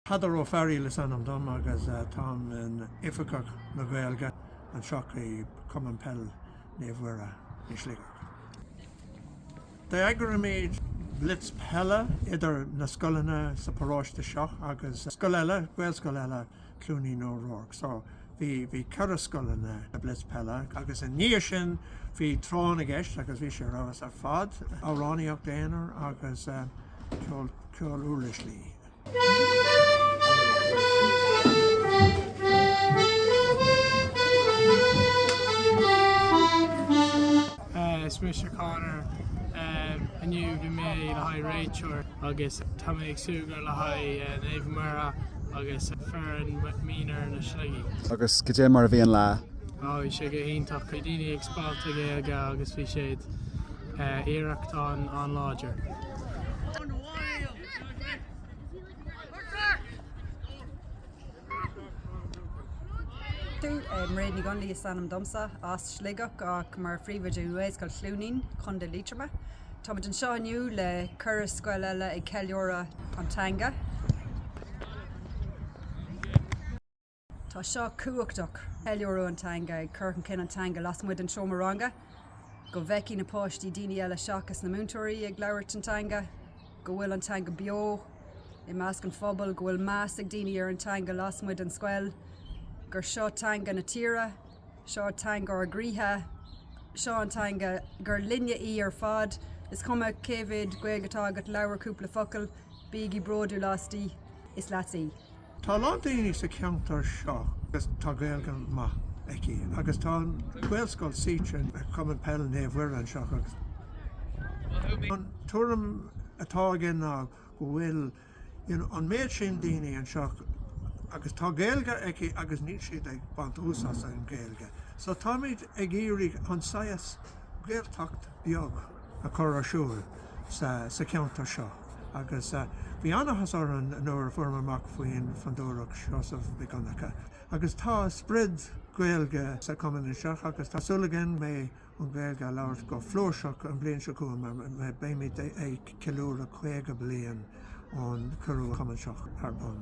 Peadar Ó Fearaíl is ainm dom agus táim i m'Oifigeach na Gaeilge anseo i Cumann Peil Naomh Mhuire i Sligeach. D'eagraíomar blitz peile idir na scoileanna sa paróiste seo agus scoil eile, Gaelscoil eile. Chluainín Uí Ruairc. So, bhí, bhí ceithre scoileanna, a blitz peile. Agus i ndiaidh sin, bhí Tráth na gCeist agus bhí sé ar fheabhas ar fad, amhránaíocht aonair agus ceol, ceol uirlise. Is mise Conor. Inniu bhí mé le haghaidh réiteoir agus tá mé ag súgradh le haghaidh Naomh Mhuire agus foireann mionúr na Sligigh. Agus goidé mar a bhí an lá? Ó bhí sé go hiontach. Bhí daoine ag spalpadh Gaeilge agus bhí siad iarracht an-láidir. Mairéad Nic Dhónaill is ainm domsa, as Sligeach ach mar phríomhoide Ghaelscoil Chluainín, Contae Liatroma. Tá muid anseo inniu le ceithre scoil eile ag ceiliúradh an teanga. Tá seo tábhachtach, ceiliúradh an teanga, ag cur chun cinn an teanga lasmuigh den seomra ranga, go bhfeicfidh na páistí daoine eile seachas na múinteoirí ag labhairt an teanga. go bhfuil an teanga beo i measc an phobail, go bhfuil meas ag daoine ar an teanga lasmuigh den scoil, gur seo teanga na tíre, seo teanga ár gcroíthe, seo an teanga gur linne í ar fad, is cuma cé mhéad Gaeilge atá agat, labhair cúpla focal, bígí bródúil asti, is leatsa í. Tá a lán daoine sa cheantar seo agus tá Gaeilge maith acu agus tá Gaelscoil suite ag Cumann Peil Naomh Mhuire anseo agus an tuairim atá againn ná go bhfuil an méid sin daoine anseo agus tá Gaeilge acu agus níl siad ag baint úsáid as an Gaeilge so táimid ag iarraidh chun saghas Gaeltacht beag a chur ar siúl sa cheantar seo agus bhí an-áthas orainn nuair a fuaireamar amach faoin Fondúireacht Sheosaimh Mhic Dhonncha agus tá sprid Gaeilge sa chumann anseo agus tá súil againn méid an Ghaeilge a labhairt go flúirseach an bliain seo chugainn mar beimid ag ceiliúradh 50 bliain ón cuireadh an cumann seo ar bun.